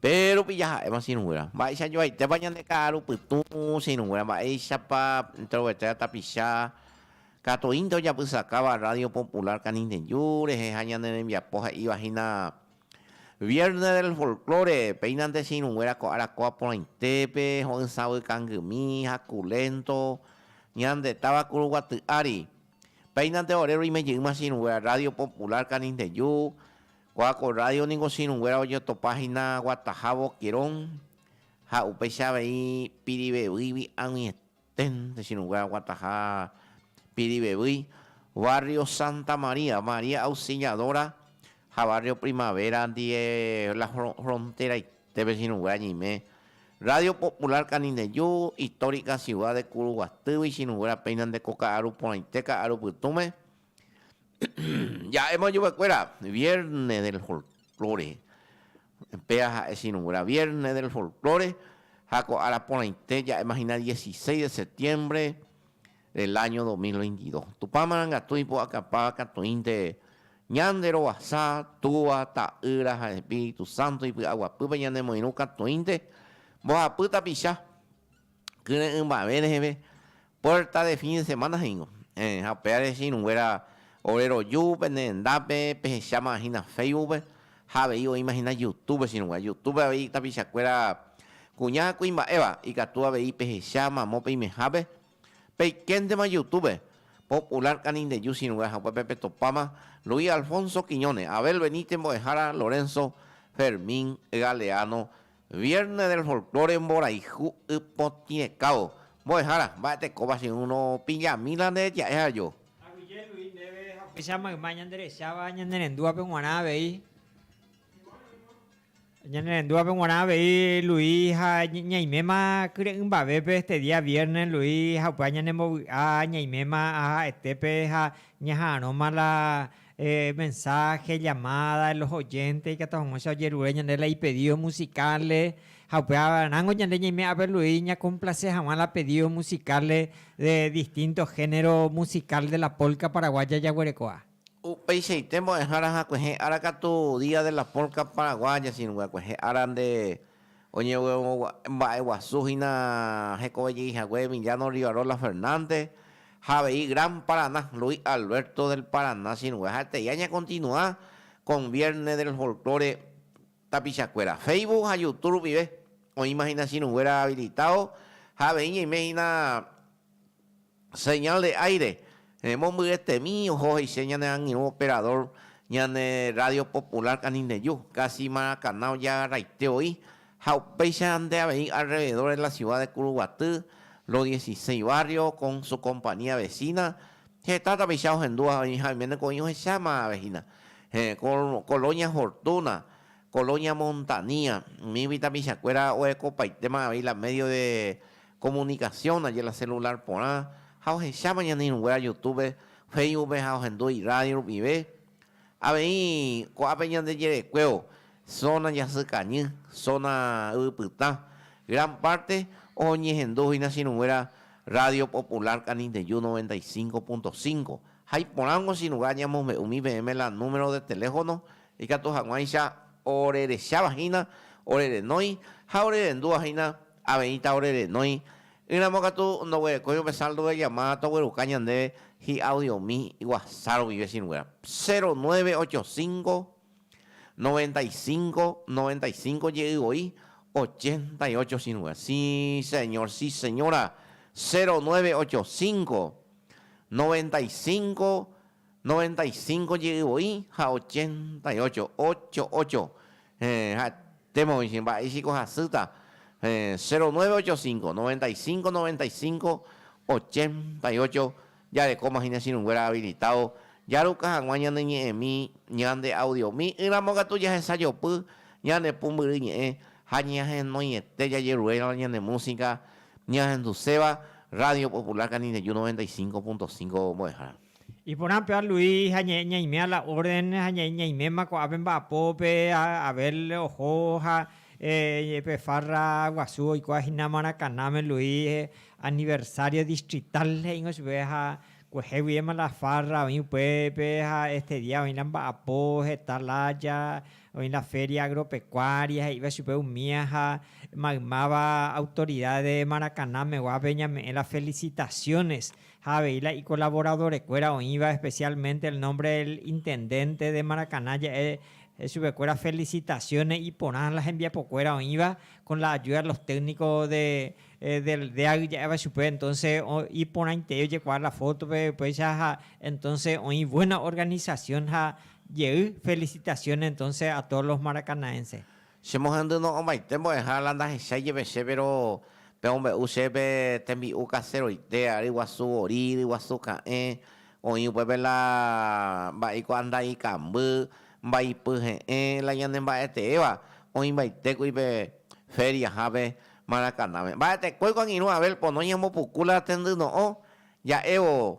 Pe rupi jaha'éma sirũguéra. Mba'éicha joaitépa ñande ka'aru pytũ sirũguéra, mba'éichapa introvertida tapicha katuínte ojapysakáva Radio Popular Canindeyú rehe ha ñane rembiapo he'íva hína Viernes del Folklore, Péinante che irũnguéra ko arakuaa porãitépe, ho'ysãvy kangymi, haku lénto, Ñande táva kuruguaty ári. Péinante ore roime jeýma che irũnguéra Rádio Popular Canindeyú, ko'ã ko rrádio ningo che irũnguéra ojotopa hína guataha Boquerón ha upéicha avei Pirivevýigui ag̃uietã. Ten, techirũngue aguataha Pirivevýi, barrio Santa María, María Auxiliadora ha barrio Primavera ndie la fronteraite pechirũngue añime. Radio Popular Canindeyu, histórica ciudad de Kuruguatýgui, chirũnguéra péina nde ko ka'aru porãite ka'aru pytũme, Ja'éma ojovekuéra Viernes del Folklore. Péa ha'e Sirũgura Viernes del Folklore ha ko ára porãite ja'éma hína 16 de septiembre del año 2022. Tupã marangatu ipu'akapáva katuĩnte ñande rovasa Túva, Ta'ýra ha Espíritu Santo ipy'aguapýpe ñanemoirũ katuĩnte mbohapy tapicha Kyre'ỹ mba'eve reheve, puerta de fin de semana he'íngo. Héẽ, ha upévare che irũnguéra ore roju pene rendápe pehecháma hína Facebookpe, ha avei oĩma hína Youtube che irũnguéra. Youtube avei tapichakuéra kuña ha kuimba'éva, ikatu avei pehecha mamo peimehápe, peikéntema Youtube, Popular Canindeyú che irũnguéra, ha upépe petopáma Luis Alfonso Quiñones, Abel Benítez mbo'ehára, Lorenzo Fermín Galeano Viernes del Folklore Mborayhu ypotĩrekao Mbo'ehára, mba'etekóva che ũ nopillami la nde reja'e ha jo. Aguyje Luis Ndéve haguéicha mayma ñanderecháva ñanerendúvape g̃uarã avei Ñanerendúvape g̃uarã avei Luis ha ñaiméma kyre'ỹmbavépe Este día viernes Luis ha upéva ñanembovy'a ñaiméma aha'etépe ha ñaha'arõma la Mensáhe, llamáda, los oyentes ikatu hag̃uáicha ojerure ñande la ipedído musicalre, ha upévaramo ñande ñaime aperluí ñakomplase hag̃ua la pedído musicalre de distinto género musical de la polka paraguaya jaguerekoha. Upeichaite mbo'ehára hakuẽhe ára katu Día de la Polka Paraguaya, sino kuẽhe ára nde Oñemomba'eguasu hína hekove jey hague Emiliano Rivarola Fernández ha avei Gran Paraná, Luis Alberto del Paraná chirũve. Ha'etéi añakontinua con Viernes del Folklore tapichakuéra. Facebook ha Youtube rupive oĩma hína chirũnguéra habilitado ha avei ñaime hína Señal de aire, mombyetemi oho he'ise ñane angirũ operador ñane radio popular Canineyu, casi Maracaná ojeagaraite oi, ha upéicha nde avei alrededor de la ciudad de Curuguaty, los dieciséis barrios con su compañía vecina, heta tapicha ohendúva ha oiméneko oĩ ohecháma vehina, Colonia Fortuna, Colonia Montanía, umígui tapichakuéra oekopaitéma avei la medio de Komunikasión ndaje la selulár porã ha ohecháma ñane irũnguéra Yutúbe, Féisbupe ha ohendu irrádio rupive. Avei ko'ápe ñande jerekuévo, zóna jasykañy, zóna yvypytã, gran párte oñehendu hína che irũnguéra Rádio Popular Canindeyú noventa y cinco punto cinco. Ha iporãngo che irũnga añamombe'u umi peẽme la número de teléfono ikatu hag̃uáicha orerecháva hína, orerenói ha orerendúva hína. Aveĩta ore renói. Ỹramo katu ndoguerekói upe saldo de llamada togueruka ñandéve hi'audiomi Whatsapp rupi vecinog̃uéra. Cero nueve ocho cinco, noventa y cinco, noventa y cinco jey voi ochenta y ocho cinog̃uéra. Sí señor, sí señora. Cero nueve ocho cinco, noventa y cinco. Noventa y cinco jey voi ha ochenta y ocho, ocho, ocho, eh, ha'etéma voi che mba'e ichiko hasýta, eh, cero nueve ocho cinco, noventa y cinco, noventa y cinco, ochenta y ocho, jarekóma hína chirũnguéra habilitado, jaruka hag̃ua ñane ñe'ẽmi ñande audiomi, ỹramo katu jahesajopy ñane pumbyry ñe'ẽ ha ñahenóiete jajeruréiramo ñane música ñahenduséva Radio Popular Canindeyú noventa y cinco punto cinco mbo'ehára. Iporã pe aluí ha ñaimea la orden ha ñaiméma ko'ápe mba'apópe Abel oho ha pe farra guasu oikuaa hína Maracaná-me luí aniversario distrital he'íngo chupe ha kueheguiema la farra oĩ upépe ha este día oĩ la mba'apo heta lája oĩ la feria agropecuaria he'íva chupe umía ha maymáva autoridad de Maracaná-me guápe ñame'ẽ la felicitaciones ha avei la ikolaboradorekuéra oĩva especialmente el nombre del intendente de Maracaná ja'e chupekuéra felicitaciones iporã la hembiapokuéra oĩva con la ayuda de los técnicos de del DEAG ja'éva chupe entonces iporãitei ojekuaa la fotope upéicha ha entonces oĩ buena organización ha jey felicitaciones entonces a todos los maracanaenses. Che mohendy no'õmaite mbo'eha la ndahechái jeve che, péro pe ombe'u che pe tembi'u kaseroite, ary guasu vori, yry guasu ka'ẽ, oĩ upépe la mba'éiko anda ikamby, mbaipy he'ẽ, la ñane mba'eteéva, oĩmbaite kuri pe féria hápe Maracanáme. Mba'etekóiko angirũ Abel pono ñambopuku la tendy no'õ ja'évo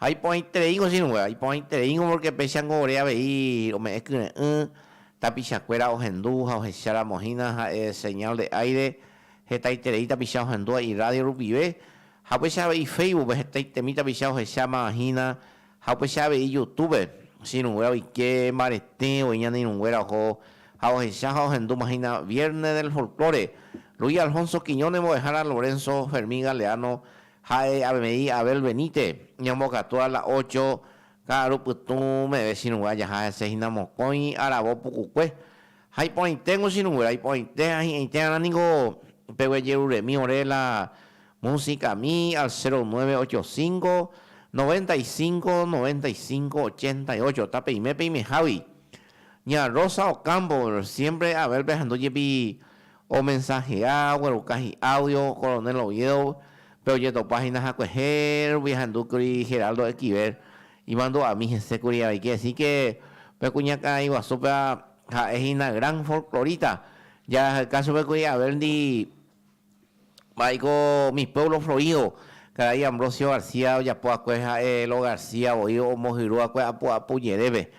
Ha iporãitereíngo che irũnguéra, iporãitereíngo pórke péichango ore avei ome'ẽ kyre'ỹ tapichakuéra ohendu ha ohecháramo hína ha'e señal de aire, hetaiterei tapicha ohendúva irrádio rupive, ha upéicha avei Facebookpe hetaitemi tapicha ohecháma hína, ha upéicha avei Youtúbepe che irũnguéra oike mbarete voi ñane irũnguéra oho ha ohecha ha ohendúma hína Viernes del Folklore, Luis Alfonso Quiñones mbo'ehára Lorenzo Fermín Galeano Ha'e avei Abel Benite, ñambokatúa la ocho ka'aru pytũ meve chirũngue ajaha hese hína mokõi aravo pukukue. Ha iporãiténgo chirũngue la iporãite ha hi'ãitérarã niko peguejeruremi ore la musicami al cero nueve ocho cinco, noventa y cinco, noventa y cinco, ochenta y ocho tapeime peimehágui. Ña Rosa Ocampo siempre Abel-pe ahendu jepi Omensahea, ogueruka hi'áudio Coronel Oviedo, pe ojetopa hína hakuehe rupi ahendúkuri Geraldo Equiver imandu'ami hese kuri avei kehesíke pe kuñakarai guasúpe'a ha'e hína gran folklorita, jahayka chupe kuri Averndi mba'éiko Mi Pueblo Florido, karai Ambrosio García ojapo akue ha'e Lo García voi omohyrúakue apu'apu jerépe.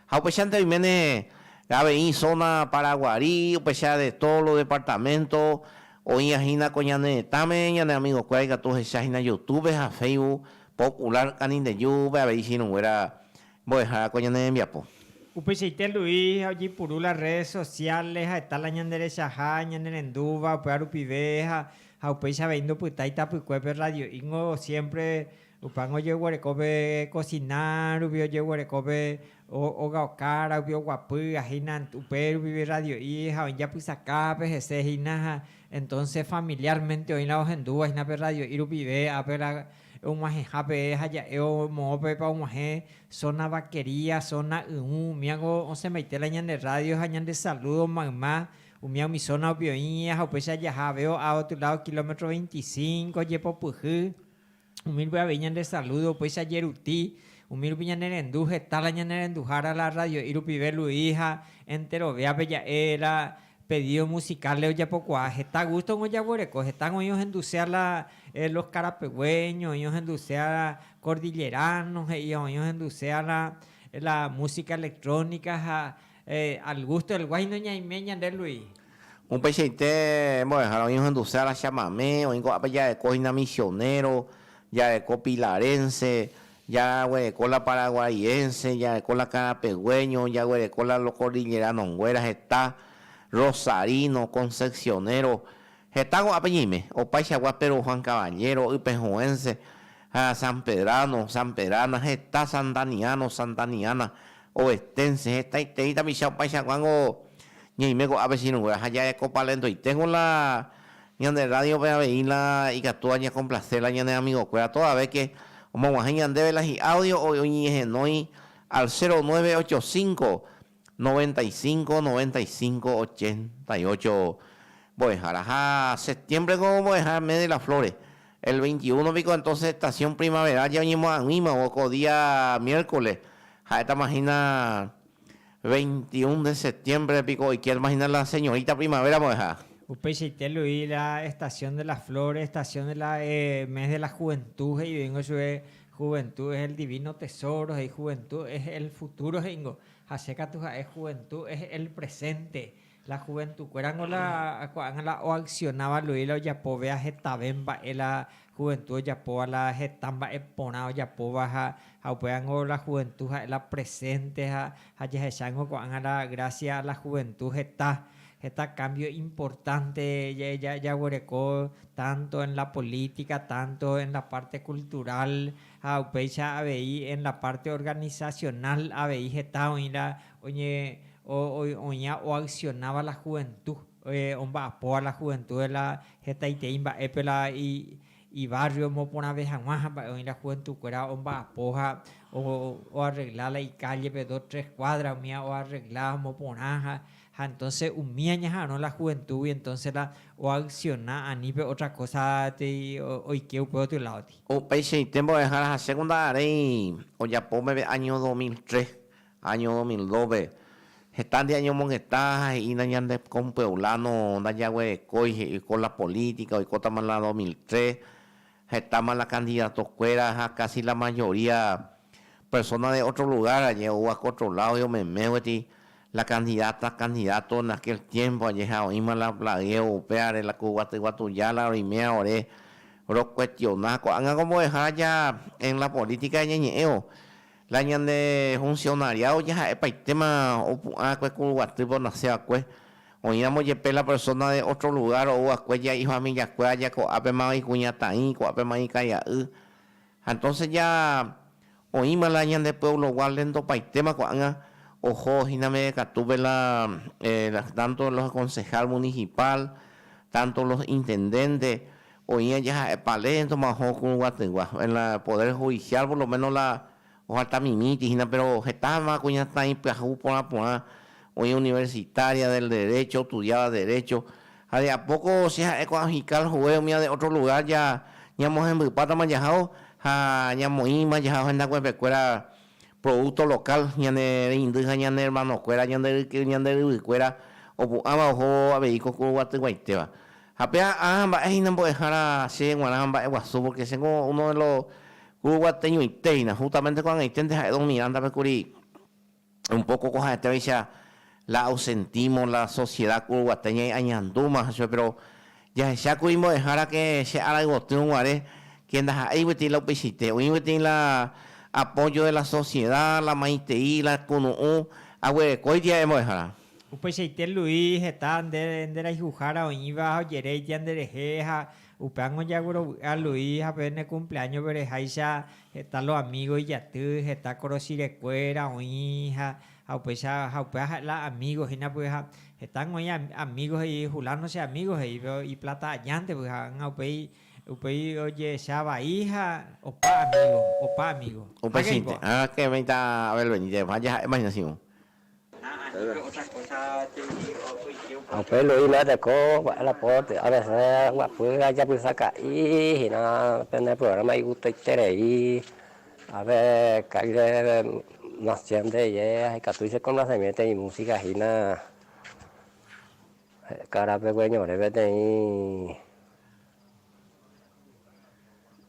Ha upéichante oiméne avei zona Paraguari, upéicha de todos los departamento, oĩva hína ko ñane retãme, ñane amigo kuéra ikatu ohecha hína Youtube ha Facebook popular Canindeyú pe avei ichirũnguéra mbo'ehára ko ñane rembiapo. Upeichaite Luis ha ojeipuru la redes sociales ha heta la ñande rechaha ñane rendúva upéva rupive ha ha upéicha avei ndopytái tapykuépe Radio Ingo siempre Upãngo ojeguerekove kosina rupi, ojeguerekove ogaokára rupi, oguapy ha hína upe rupi rradio'i ha oĩ japysakápe hese hína ha entónse familiármente oĩ la ohendúva hína pe rradio'i rupive, ápela og̃uahẽha peẽ ha ja'e omo'õ peẽpa og̃uahẽ zona vaquería, zona yũ, umíango osẽmbaite la ñande rradio ha ñande salúdo mayma, umía umi zona rupi oĩ ha upéicha jaha avei o'á otro ládo kilómetro veinticinco jepopyhy. Umi rupi avei ñande saludo upéicha jeruti, umi rupi ñane rendu heta la ñane renduhára la radio'i rupive Luis ha enterovéape ja'e la pedido musical ojapokuaa heta gusto ningo jaguereko hetako oĩ ohendusea la los carapegueños, oĩ ohendusea la cordilleranos he'i ha oĩ ohendusea la la música electrónica ha Al gusto del guái noñaime ñande Luis. Upeichaite mbo'ehára oĩ ohenduse ára chamame, oĩ ko'ápe jareko hína misionero, jareko pilarense, jaguereko la paraguaiense, jareko la karapegueño, jaguereko la lokordileranonguéra heta, rosarino, concepcionero, heta ko'ápe ñaime, opaichagua Pedro Juan Caballero, ypehuense, ha sanpedrano, sanpedrana, heta santaniano, santaniana, Oveténse hetaiterei tapicha opaichakuángo ñaime ko'ápe ichirũnguéra ha jarekopalentoiténgo la ñande rádiope avei la ikatúva ñakomplase la ñane amigokuéra todavéke omoguahẽ ñandéve la hi'áudio oñehenói al cero nueve ocho cinco, noventa y cinco, noventa y cinco, ochenta y ocho mbo'ehára ha septiembre-ko mbo'ehára mes de las flores El veinte y uno piko entonces estación primavera ja oñemoag̃uímavo ko día miércoles, ha'étama hína veinte y un de septiembre piko oikétama hína la señorita primavera mbo'eha. Upeichaite Luis la estación de las flores, estación de la mes de la juventud he'ivéingo chupe, juventud es el divino tesoro he'i, juventud es el futuro he'ingo ha che katu ha'e juventud es el presente. La juventukuérako la ko'ág̃a la oaksionáva Luis la ojapo vea hetave mba'e la juventu ojapóva la heta mba'e porã ojapóva ha ha upévango la juventu ha'e la presente ha ha jahechángo ko'ág̃a la grasia a la juventu heta heta kámbio importante ja ja jaguereko tánto en la polítika tánto en la párte kulturál ha upéicha avei en la párte organisasionál avei heta oĩ la oñeoña oaksionáva la juventu, omba'apóva la juventu de la hetaiterei mba'épe la ivárrio omoporãve hag̃ua ha mba'e oĩ la juventukuéra omba'apo ha oarregla la ikállepe dos tres kuádra umi oarregla ha omoporã ha entónse umi añaha'arõ la juventúgui entónse la oaksiona ani pe ótra kósa oike upe gotyo ládogui. Upeichaite mbo'ehára ha che kunda aréi ojapo peve áño dos mil tres Año dos mil dóce, heta nde añomongeta ha he'ína ñande kompueblano ndajaguerekói he'i ko la política, oikótama la dos mil tres, hetáma la kandidatokuéra ha kasi la mayoría persona de otro lugar añe oúva ko otro ládope omeme gueti la kandidata, candidato en aquel tiempo añe ha oĩma la plagueo upévare la ku guaty guatuja la roiméva ore rokuestiona. Ko'ág̃a ko mbo'ehára ja en la política ñañe'ẽvo La ñande funcionariado jaha'epaitema opu'ã va'ekue kuruguatýpe onase va'ekue, oĩramo jepe la persona de otro lugar ou va'ekue ya ifamilia kuéra ya ko'ápema ikuñataĩ, ko'ápema ikaria'y. Ha entonces ya oĩma la ñande pueblo gua lentopaitéma ko'ág̃a oho hína meve katúpe la tanto los concejal municipal, tanto los intendente, Oĩ ajeha'épa léi entonce mo'ãho kurũguatỹgua. En la poder judicial por lo menos la ojalta mimíti hína pero hetáma kuñataĩ pyahu porã porã oĩ universitaria del derecho ostudiáva derecho ha de a poco che ha'e ko'ã fiscal juez umíva de otro lugar ja ñamohembypátama jahao ha ñamoĩma jahao hendakuépe kuéra producto local ñane reindy ha ñane hermano kuéra ñande ryke ñande ryvy kuéra opu'ãva oho avei ko kurũguatyguaitéva. Ha pe a'a mba'e hína mbo'ehára che g̃uarã mba'e guasu, pórke chéngo uno de lo ku guateñoite hína. Hústamente ko ag̃aiténte ha'e don Mirándape kuri un póko ko ha'etévaicha la ausentímo, la sosieda ku guate ñaĩ añandúma ha chupe. Péro jahecha ku imbo'ehára ke che ára yvotýrõ guare, ke ndaha'éi peteĩ la upeichaite. Oĩ peteĩ la apóyo de la sosieda, la maitei, la kunu'ũ. Aguerekóiti ha'e mbo'ehára. Upeichaite Luis heta nde nderayhuhára oĩva ha ojeréitia nderehe ha upévango jaguerovy'a Luis ha pene kumpleáñope reháicha heta lo amígo ijaty, heta korosirekuéra oĩ ha ha upéicha ha upéva ha'e la amígo hína py'a ha hetángo oĩ amígo he'i Fulano che amígo he'i péro ipláta ajánte py'a ha upéi upéi ojehecha vai ha opa amígo opa amígo. Upeichaite. Ag̃akẽvéita Abel Benítez, ha jaha'éma hína Simón. Ha upe Luisma teko la porte avese guapy ajapysaka'i hína pende programa igutoiterei ave ka'i reve nación de ye ajekatúi che complacemiento i música hína he'ka rapegue ñorẽ peteĩ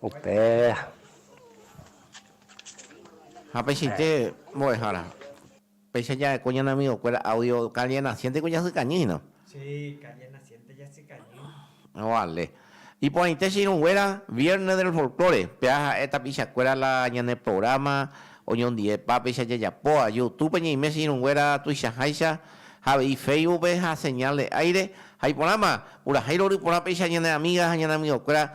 Upéva. Ha peichaite mbo'ehára, péicha ja'ekue ñane amigokuéra audio calle naciente-gui jasykañy hína. Sí, calle naciente jasykañy. Vale. Iporãite che irũnguéra, Viernes del Folklore, péva ha'e tapichakuéra la ñane programa oñondivepa péicha jajapóva, Youtube-pe ñaime che irũnguéra tuichaháicha ha avei Facebook-pe ha Señal de Aire ha iporãma, purahéi rory porã péicha ñane amiga ha ñane amigokuéra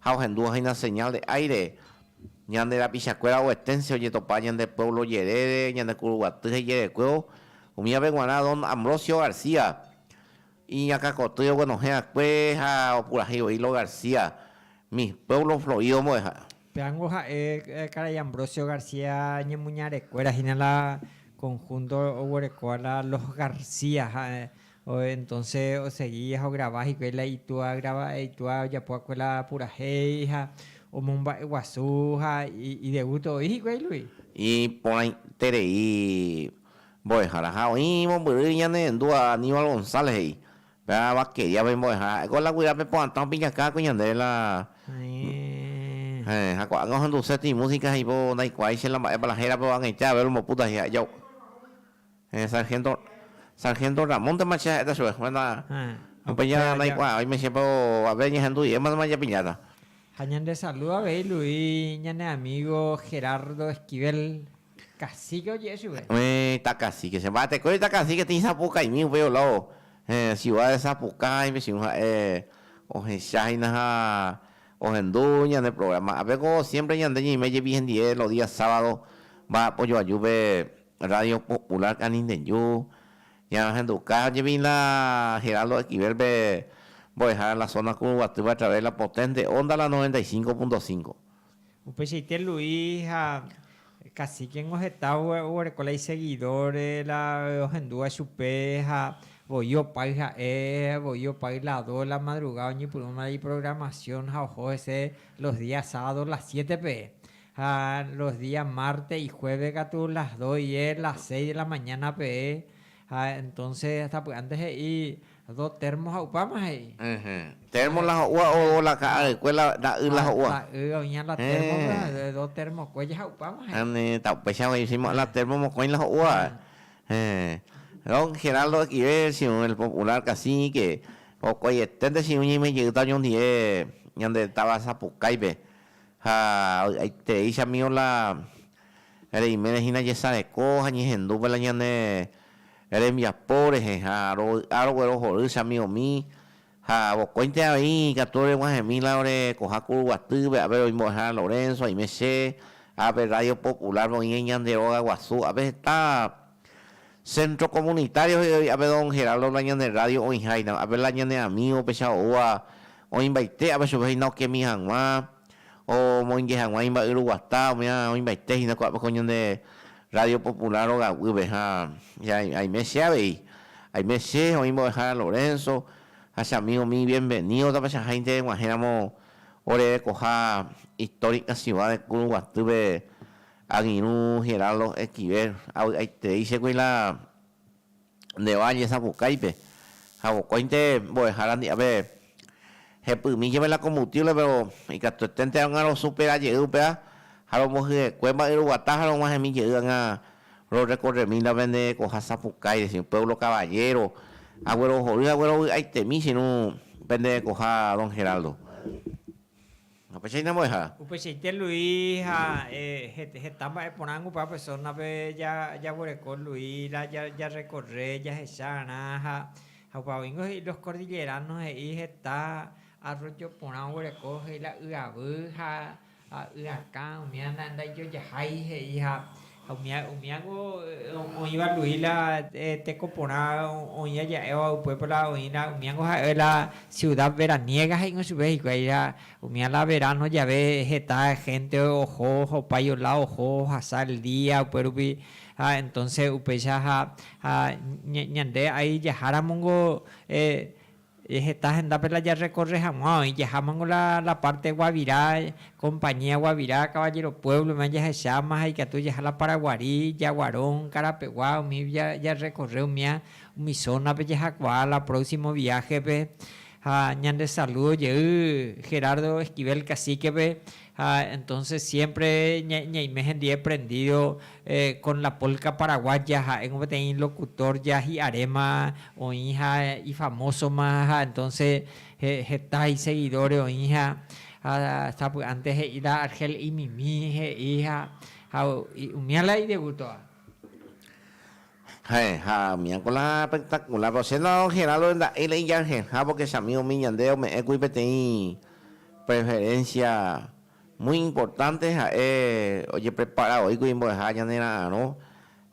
ha ohendúva hína señal de aire, ñande rapichakuéra oveténse ojetopa ñande pueblo jerére, ñande kuruguaty hejerekuévo, umívape guarã don Ambrosio García, iñakãkotýre oguenohẽ akue ha opurahéi voi Lo García, mi pueblo florido mbo'eha. Péango ha'e karai Ambrosio García ñemuñarekuéra hína la conjunto oguerekóva la Los García ha Entonce osegi ohograva hikuái la itúa grava, itúa ojapo va'ekue la purahéi ha omomba'e guasu ha idegusto oĩ hikuái lui. Iporãiterei mbo'ehára. Ha oĩ mombyry ñane ndúa Aníbal González he'i, pe Vaqueriápe mbo'ehára, ha'éko la guyra pe poatã opiñaká va'ekue ñandéve la Heẽ, ha ko'ág̃a ohenduse trimúsica ha hípo ndaikuaái che la mba'épa la hérapa oag̃uicha avei olmbopúta he'i ha ijao. Héẽ, sargénto, sargénto Ramóntema che ha'éta chupe. Bueno, upéi ja naikuaa, oime chépa avei añehendu irématema japiñáta. Ha ñande saludo avei Lu'i ñane amigo Gerardo Esquivel, cacique oje'e chupe. Héẽ, tacacique, che mba'etekói tacacique tĩi Sapucaimi upéi olávo, héẽ, ciudad de Sapucá haĩ pechiũ ha'e ohecha hína ha ohendu ñane programa. Ápe ko siempre ñande ñeime jepi hendie los días sábado mba'apo joajúpe Radio Popular Canindeju, ñañahenduka jepi la Geraldo Esquivel-pe mbo'ehára la zona kuruguatýpe a través de la potente onda la 95.5. Upeichaite Luis ha Cacique-ngo heta oguereko la isegidóre la ohendúva chupe ha voi opáy ha'e, voi opáy la do de la madrugada oñepyrũma la iprogramasión ha oho hese los días sábados la siete peẽ. Ha los día márte y juéve katu las dos ie las seis de la mañána peẽ, ha entónse hasta py'ánte he'i do térmo ha upáma he'i. Ehe. Térmo la ho'úva ou la ka'a rekue la ta'y la ho'úva. La y oĩha la térmo pe do térmo kuéja ha upáma he'i. Ani ta upéicha voi encima la térmo mokõi la ho'úva. Ehe. Don Geraldo okive chiu el popular cacique, vokoiete nde chiu ñeimejeyýta oñondive ñande táva sapukái pe. Ha aitereichamívo la reimére hína jesareko ha ñehendúpe la ñane rembiapo rehe, ha rovy'a roguero hory chamívomi, ha vokóinte avei ikatu reguahẽmi la ore koha kuru guatýpe, ápe roĩ mbo'ehára Lorenzo, aime che, ápe Radio Popular-pe oĩ ñande róga guasu, ápe heta. Centro Comunitario he'ígui ape don Geraldo la ñane radio oĩháina, ape la ñane amigo pecha oúva oĩmbaite ape chupe hína okemi hag̃ua, omoinge hag̃ua imba'yruguata, omía oĩmbaite hína ko'ápe ko ñande Radio Popular rogaguýpe ha aime che avei, aime che, oĩ mbo'ehára Lorenzo ha che amigo mi bienvenido tapechaháinte eg̃uahẽramo orerekoha histórica ciudad de Kuruguatýpe Angirũ Geraldo Esquivel, avy'aiterei chégui la Nde'va Ñesapukáipe, ha vokóinte mbo'ehára ndi'ápe hepymi jeve la combustible, péro ikatueténte óga rosupera jey upéva ha rombohyekue mba'y roguata ha rog̃uahẽmi jey óga rorrekorremi la pende koha sapukái, decir, pueblo caballero, aguerohory hague rovy'aitemi che irũ pende koha don Geraldo. Upeichaite mbo'eha. Upeichaite Lui ha heta mba'e porã opa persónape jaguereko Lui la jarrekorre jahecha g̃arã ha opa oíngo he'i Los Kordillerános he'i heta arróllo porã oguereko he'i la yavy ha yrakã umíva ndaijojahái he'i ha Ha umi ángu oĩva Luis la teko porã oĩ aja'éva upépe la oĩna umi ángu ha'e la ciudad veraniega he'íkuri chupe hikuái la umía la verano jave heta gente oho ohopa iola oho ohasa el día upérupi ha entonce upéicha ha ñande ai jaháramo niko Heta hendápe la jarrekorre hag̃ua oĩ, jahámango la párte Guavirá, Compañía Guavirá, Caballero Pueblo-me jahecháma ha ikatu jaha la Paraguari, Yaguarón, Carapegua, umi jarrekorre umía umi zónape jahakuaa la próximo viaje-pe. Ha ñande saludo jey Gerardo Esquivel Cacique-pe Ha entonces siempre ñaime hendie prendido con la polka paraguaya, ha'éngo peteĩ locutor ya hi'aréma oĩ ha ifamosoma ha entonces heta iseguidores oĩ ha sapy'ánte he'i la Argel imimi he'i ha umía la idegusto. Ha'eha amia con la espectacular Rosenda Don Geraldo nda'éi la ijarheha porque chami umi ñande ome'ẽkuri peteĩ preferencia muy importante ha'e ojeprepara oíkuri mbo'eha ñanera'arõ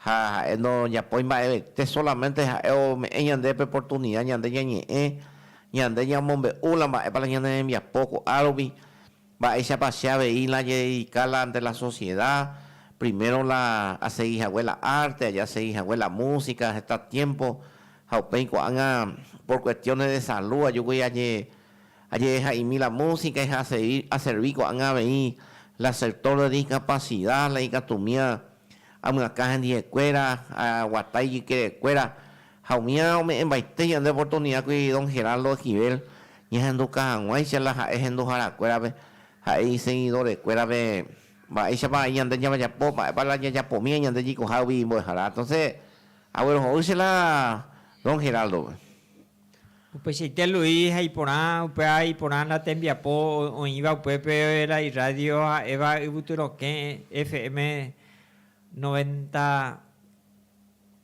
ha ha'e ndojapói mba'evete solamente ha'e ome'ẽ ñande pe oportunidad ñande ñañe'ẽ ñande ñamombe'u la mba'épa la ñane rembiapo ko'árupi Mba'éichapa che avei la ajededika la ante la sosieda? Primero la asegi hague la arte, aja asegi hague la músika heta tiémpo, ha upéi ko'ág̃a por kuestiónes de salu ajúkuri ajedeha'imi la músika ha aservi ko'ág̃a avei la sector de discapacida, la ikatúmía amyakã hendivekuéra, aguata ijykerekuéra, Ha umíva ome'ẽmbaite ñande oportunidágui don Geraldo Esquivel ñahenduka hag̃uáicha la ha'e henduharakuérape, ha'e isegidorekuérape mba'éichapa vai ñande ñavajapo, mba'épa la ñajapomíva ñande jaikohágui imbo'ehara. Entonces agueroho'y che la don Geraldo-pe. Upeichaite Luis ha iporã, upéva iporã la tembiapo oĩva upépe la irradio ha'éva Yvytyrokẽ FM noventa.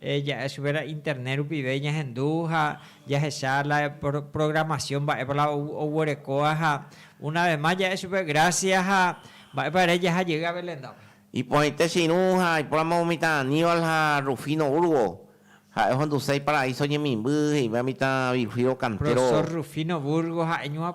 Ja'e chupe la internet rupive ñahendu ha jahecha la programación mba'épa la oguerekóva ha una vez más ja'e chupe gracias ha mba'épa ere jaha jey a Beléndape. Iporãite che irũ ha aipóramo mitã Aníbal ha Rufino Burgo, ha'e ohenduse Iparaíso ñemimby he'íva mitã Virgílio Cantero. Profesor Rufino Burgo ha'e ñuã.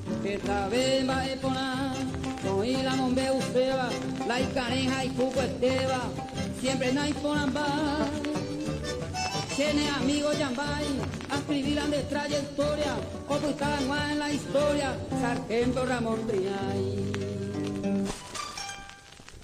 Hetave mba'e porã oĩ la mombe'uséva, la ikarẽ ha ipukuetéva, siémpre naiporãmba. Che ne amígo jambái askrivi la nde trayektória opyta hag̃ua en la istória, Sargento Ramón Triay.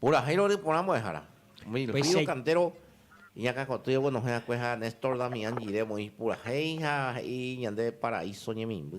Purahéirõ ry porã mbo'ehára. Umi Péicha- río kantero iñakãkotýivo oguenohẽ akue ha Néstor Damián Gire omoĩ purahéi ha he'i ñande paraíso ñemimby.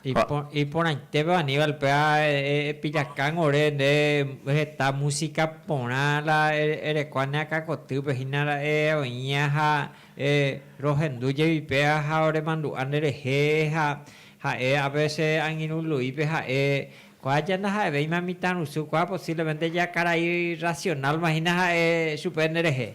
Ha. Iporãitépe Aníbal péva epillakángo ore nde heta músika porã la erekua ne akãkotýpe hína ra'e oĩva ha rohendu jepi péva ha oremandu'a nderehe ha ha'e a vece angirũ Luípe ha'e kua ja ndaha'evéima mitãrusu kua posiblemente ja karai racional-ma hína ha'e chupe nderehe.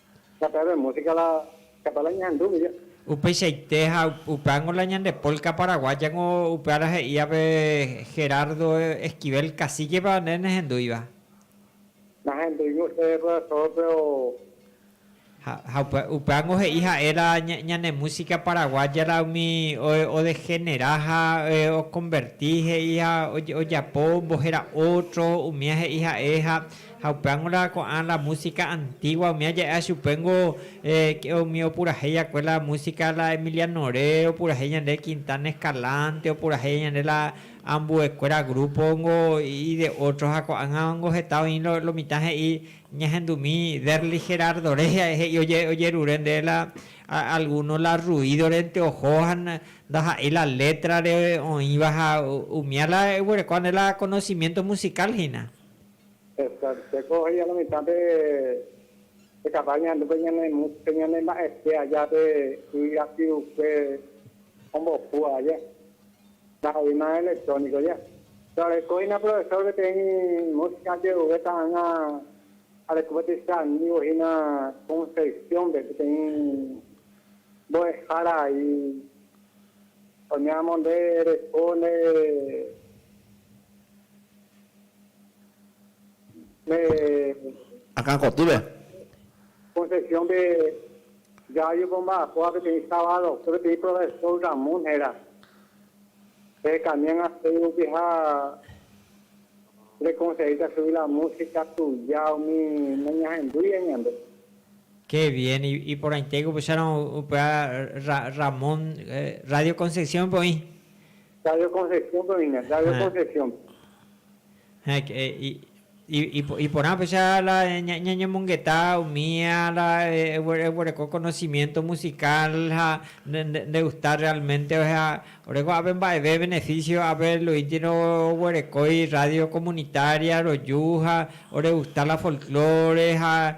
Upeichaite ha upe ángo la ñande polka paraguaya ko upe ára he'íva pe Gerardo Esquivel Cacique-pa nde nehendúiva. Ha upe ángo he'i ha'e la ñane músika paraguaya la umi odegenera ha okonverti he'i ha ojapo ombohéra ótro, umía he'i ha'e ha Ha upéva ngóla ko'ã la música antigua, umi aja'a chupéngo umi opurahéi akue la música la Emiliano Re, opurahéi ñande Quintana Escalante, opurahéi ñande la ambuekuéra grupo-ngo y de otro. Ha ko'ág̃avango heta oĩ lo mitã he'i ñahendumi Derly Gerardo Re, he'i ojerure nde la alguno la ruido-rente oho ha ndaha'éi la letra-re oĩva ha umía la eguerekóva nde la conocimiento musical hína. Teko oheja la mitã pe caballo ñandu pe ñane mu, pe ñane mba'ete aja pe y rapyupe ombopu aja. Ndaha'eíma electrónico ya. Pero reko hína profesor peteĩ música jeruve ta'ãnga areko peteĩ che amigo hína Concepción pe, peteĩ mbo'ehára aĩ. Oime amonde reko nde. Akã kotýpe. Concepción-pe Yayu ko mba'apoha peteĩ sábado, ko peteĩ profesor Ramón héra, rehekamiág̃a chugui rupi ha rekonseíta chugui la músika tuja umi nañahendúiva ñande. Ke bien, iporãitéke upéicharõ upe Ramón Radio Concepción-pe oĩ. Sabio Concepción-pe oĩne, Sabio Concepción-pe. Ha iporãpecha la ñañemongeta umi la eguereko conocimiento musical ha nde gusta realmente, ósea, ore ko'ápe mba'eve beneficio ápe Luisntino oguerekói radio comunitaria roju ha ore gusta la folclore ha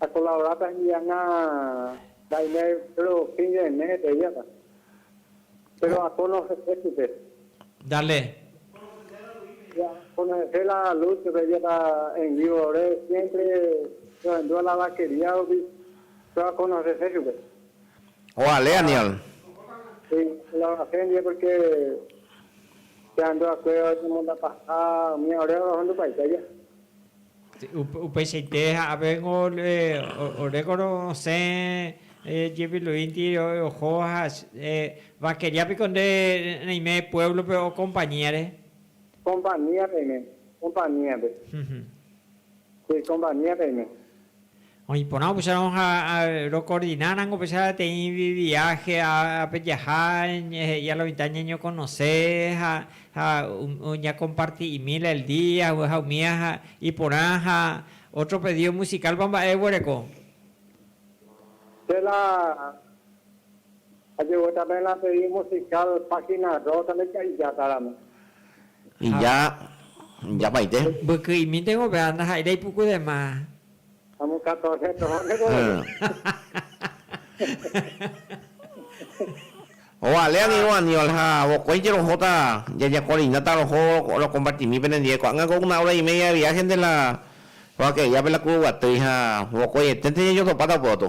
Akolaboráta hembi'anga mba'ime péro fin de mes hetevíata. Péro akó nohe'e chupe. Dale. Ya akó nohe'e la Luz petevíata en vívo ore siémpre rohendúva la vakería rupi, péro akó nohe'e chupe. Ovale, Aniol. Si, akolaborase ndive pórke che andúvakue oñemondapaha umi ore orohundupaite aja. Upeichaite ha'avégui orékore osẽ jepiluínti oho ha vaqueria piko nde reime pueblo-pe o compañía-re? Compañía reime, compañía-pe. Che compañía reime. Oĩ porã opusarõ ha rokordina rango péicha peteĩ viáhe pejaha he'i a la mitã ñañokonose ha ñakomparti'imíla el día ha umi ha iporã ha ótro pedío musikálpa mba'e oguereko. Che la Ajegueta pe la serie musical página rosa ndaika'ijata ramo. Ija, ijapaite. Mbyky'imínte gope'a ndaha'éirei puku de ma. Amo catorce toho nde ko'ẽme. Ovale ani ro Aníbal ha vokói jerohóta jajakoreindáta roho rokompartimi penendive ko'ág̃a ko una hora y media de viaje de la roake'yápe la Kuruguatýi ha vokoieténte jajotopáta upe gotyo.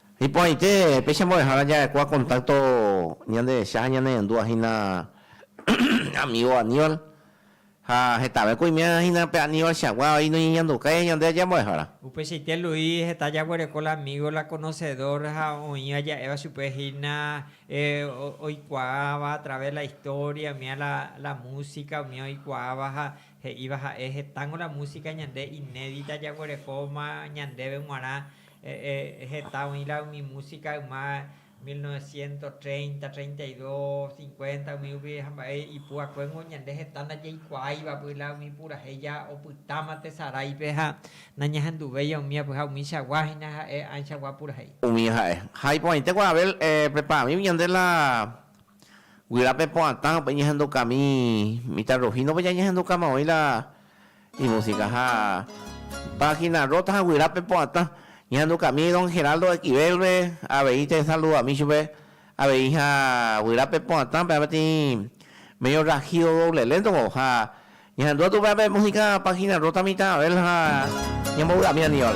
Iporãite péicha mbo'ehára ja'ekua kontákto ñanderecha ha ñanerendúva hína amígo Aníbal. Ha hetavẽko oiméva hína pe Aníbalchagua vai noñeñandukái ñande aja mbo'ehára. Upeichaite Luis heta jaguereko la amígo, la konosedór ha oĩva ja'éva chupe hína oikuaáva atraves la istória, umía la músika, umía oikuaáva ha he'íva ha'e, Hetángo la músika ñande inédita jaguerekóma ñandéve g̃uarã Heta oĩla umi músika yma mil novecientos treinta, treinta y dos, cincuenta umi rupi ha mba'e ipu'akuéngo ñande heta ndajeikuaáiva pyla umi purahéi ja opytáma tesaráipe ha nañahenduvéi omíape ha umíchagua hína ha'e ãichagua purahéi. Umi ha'e. Ha iporãite ko Abel pepa amigo ñande la guyra pepo'atã upe ñahendukami mitãrrojíndope jañahendukáma oĩ la Imusika ha página rota ha guyra pepo'atã. Ñehandukami don Geraldo Equivel-pe, avei tesaldudami chupe, avei ha guyra pepo'atã péva peteĩ medio rajido doble lento-ko, ha ñahandúta tupéva pe músika página rota mitã Abel ha ñambovy'ami Aníbal.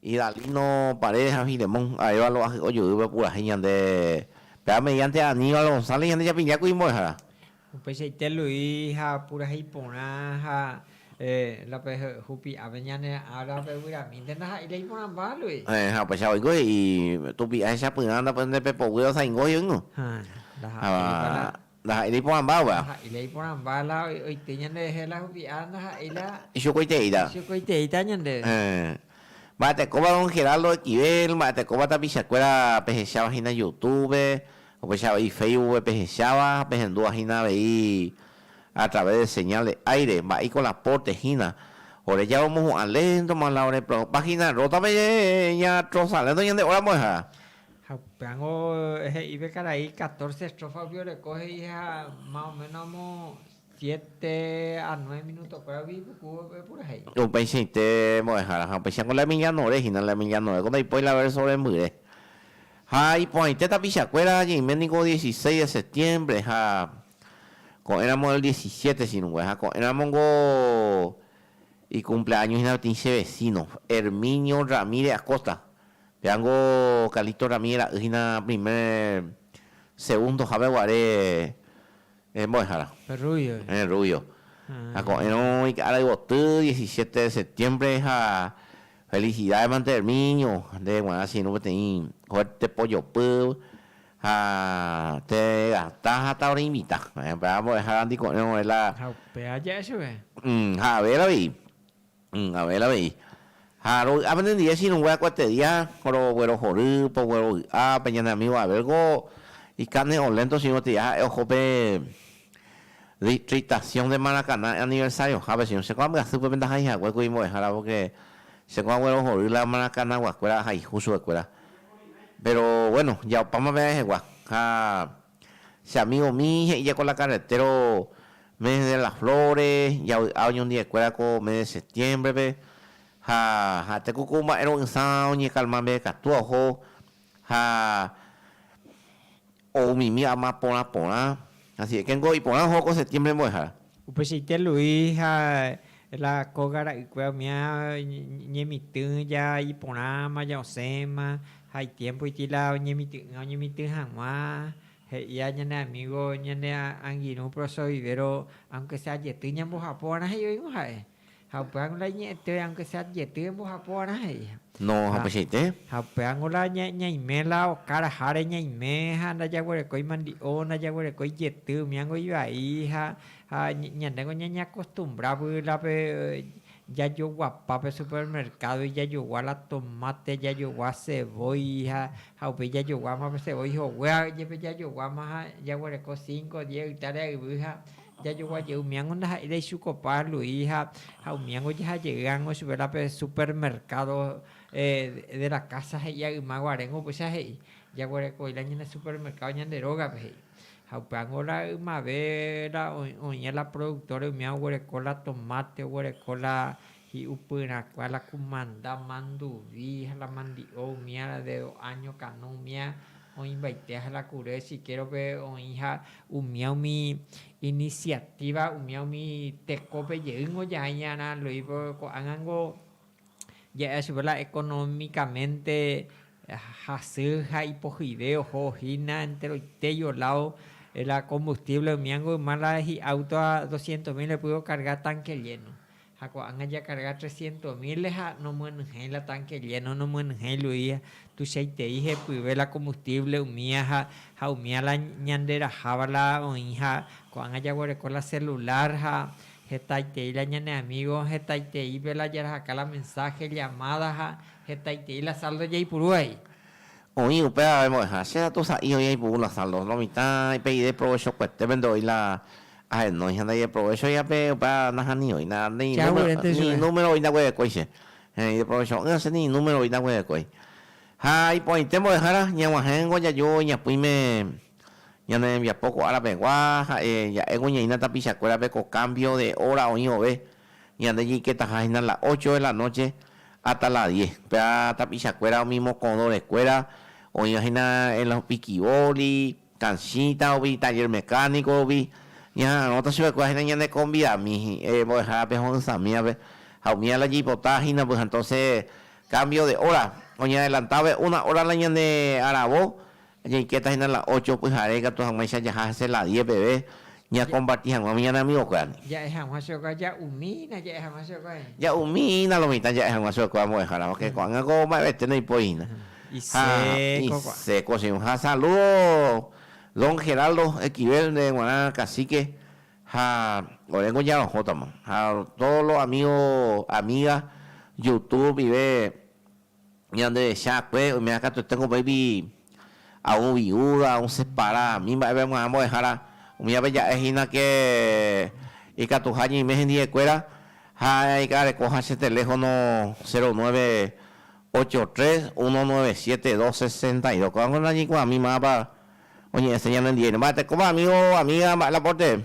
Idalino, Paredes ha Filemón, Arévalo ahy ojoýpe purahéi ñande péva mediante Aníbal González ñande japilla ku imbo'ehára. Upeichaite Luis ha purahéi porã ha la pe hupi'ápe ñane ára pe vyramínte ndaha'éi la iporãmba Luis. Ha upeichava oiko he'i, Tupi'a hechapyrã nda pe nde pe poguýra osaingo he'i oĩgõ. Ha ndaha'éipa la. Ndaha'éi iporãmbáva. Ndaha'éi la iporãmba la oite ñanderehe la hupi'a ndaha'éi la. Ichukoiteíta. Ichukoiteíta ñandéve. Héẽ. Mba'etekóva don Geraldo Equivel, mba'etekóva tapichakuéra pehecháva hína Youtube, upéicha avei Facebookpe pehecháva ha pehendúva hína avei a través de señal de aire, mba'éiko la pórte hína. Ore jave omohu'ã léntoma la orepreokupa hína rótape ñatrosa lénto ñande óra mbo'ehára. Ha upérõ he'i pe karai catorce estrofa opioreko he'i ha más o menos amo siete a nueve minutokuéra umi ipuku opurahéi. Upeichaite mbo'ehára ha upéicharamo la emilianore hína, la emilianoréko ndaipóri la verso rembyre. Ha iporãite tapichakuéra ñaime niko dieciseis de septiembre ha ko'ẽramo el diecisiete chirũngue ha ko'ẽramongo ikumpleaño hína peteĩ che vecino, Herminio Ramírez Acosta, Peango Calixto rami ra'y hína primer segundo jave guare mbo'ehára. Pe rubio. Pe rubio. Ha ko'ẽrõ ika'ára yvoty diecisiete de septiembre ha felicidades mante Herminio, nde guarã che irũ peteĩ fuerte pojopy ha te gasta ha ta oreinvita. Pe'a mbo'ehára ndi ko'ẽrõ ore la. Ha upéva ja'e chupe. Ha avera avei. Abel avei, ha rovy'a penendive chirongue akuetedia roguerohory poguy rovy'a pe ñane amigo Abel ko ikane o lento chiño gotya ha'e oho pe distritación de Maracaná aniversario jape chiño che ko ambyasy pe ndahai hague ku imbo'ehára por que che ko aguerohory la Maracaná guakuera ahaihu chupekuera pero bueno jaopáma pe aehegua ha Che amígomi he'íje ko la carretero mes de las flores, javy'a oñondi'ekuéra ko mes de septiémbrepe, ha ha'ete ku ku mba'e ro'ysã oñekalma mbe'ekatúva oho ha ou mimi ama porã porã, asieke niko iporã oho ko septiémbre mbo'ehára. Upeichaite Luis ha la kóga ra'ykue omía ñemitỹ ja iporãma, ja osẽma, ha itiémpo itĩ la oñemity'ỹa oñemitỹ hag̃ua, he'ia ñane amígo ñane angirũ prosovivéro, aunke sea jety ñambojapova'erã he'i oĩgõ ha'e. Ha upévango la iñe'ẽtéva aunke sea adjetivo embohapo va'erã he'íha. No hapeichaite. Ha upévango la ñaime la oka raháre ñaime ha ndajaguerekói mandi'o, ndajaguerekói jety, umíango ivai ha ha ñandéngo ñañeakostumbra vy'y la pe jajoguapa pe supermercado-gui jajogua la tomate, jajogua cebolla ha ha upéi jajoguáma pe cebolla hoguéva jepe jajoguáma ha jaguereko cinco, diez ytáre ha yvy ha Jajogua jey umíango ndaha'éirei chupe opa Luis ha ha umíango jaha jey ángo chupe la pe supermercado de la casa he'ia yma guaréngo upéicha he'i, Jaguerekoi la ñane supermercado ñande rógape he'i. Ha upe ángo la ymave la oĩ oĩ'e la productores umía oguereko la tomate, oguereko la Hi'upyrãkua la kumanda manduvi ha la mandi'o umíara de do áño kanu umía oĩvaite ha la kure sikérope oĩ ha umía umi inisiatíva umía umi tekópe jeýngo ja'ãiñarã Luispe ko'ág̃ango ja'éva chupe la ekonómikamente hasy ha ipohyve oho hína enteroitéi oládo la kombustívle umíango yma la hi'áuto ha doscientos míl epy okarga tánke lléno. Ha ko'ág̃a jakarga trescientos mil-re ha nomyenyhẽi la tánke lléno, nomyenyhẽi lu'ía, tuichaitei hepyve la combustible umía ha ha umía la ñanderaháva la oĩ ha ko'ág̃a jaguereko la celular ha hetaitei la ñane amigo hetaiteípe la jarahaka la mensaje, llamada ha hetaitei la saldo jaipuru he'i. Oĩ upéva pemo'ẽha, che ratu sa'i oĩ aipuru la saldo, lo mitã pe ideprovechokuetépe ndo'i la Ahenóicha ndajeprovechoiha pe opa nahanioína ni número voi ndaguerekói che. Ideprovecho'ỹva che ni número voi ndaguerekói. Ha iporãite mbo'ehára ñaguahẽngo jaju iñapỹime ñane rembiapo ko ára pegua ha'e ja'éngo ñaína tapichakuérape ko cambio de hora oĩ vove ñande jeiketaha hína la ocho de la noche hasta la diez. Péva tapichakuéra umi mokõdore kuéra oĩva hína en los piquiboli, Tanchita ogui, taller mecánico ogui, ñaha'arõta chupekuéra ha'éna ñane convidami mbo'ehárape ho'ysãmívape ha umíva la jaipota hína pyhã, entonces cambio de hora, oñeadelantávape una hora la ñane aravo, jaikéta hína la ocho pyhare ikatu hag̃uáicha jaha hese la diez peve, Ñakomparti hag̃ua umi ñane amigokuérandi. Ja'e hag̃ua chokua, ja'umi hína ja'e hag̃ua chokua he'i. Ja'umi hína lo mitã ja'e hag̃ua chokua mbo'ehára, porque ko'ág̃a ko mba'evete ndoipóri hína. Ha iséko che irũ. Ha saludo don Geraldo Esquivel nde g̃uarã cacique ha oréngo ñarohótama. Ha todos los amigos, amigas youtube ndive. Ñanderecha akue oiméva katuete ko upéigui aún viúda, aún separa, ani mba'eve g̃uarã mbo'ehára, umi aveja'e hína ke ikatuha ñeime hendie kuéra ha ika'areko ha che teléfono cero nueve ocho tres uno nueve siete dos sesenta y dos. Ko'ág̃a ko nañeikuaami mávapa oñe'ẽ seña nendive. Mba'etekópa amigo o amiga mba'e la porte.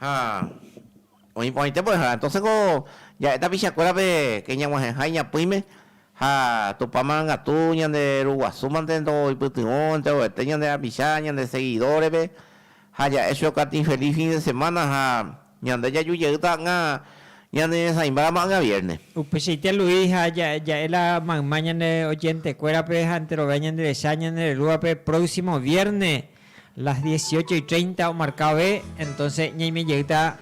Ha oĩ porãite mbo'ehára. Entonces ko ja'e tapicha kuérape ke ñaguahẽha iñapỹime ha Tupã marangatu ñande ruguasu mante ndo oipytyvõ enterovete ñande rapicha ñande seguido repe ha ja'e chupe okaty infeliz fin de semana ha ñande jaju jey ta'anga ñande ñeresãimba ramo anga vierne. Upeichaite Luis ha ja'e la mayma ñande oyente kuérape ha enterove ñande recha ñande rerúape próximo vierne. Las dieciocho y treinta omarka ove, entonce ñaime jeýta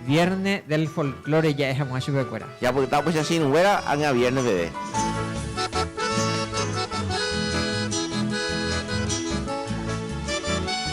Vierne del Folklore ja'e hag̃ua chupekuéra. Japyta upéicha che irũnguéra ág̃a vierne peve.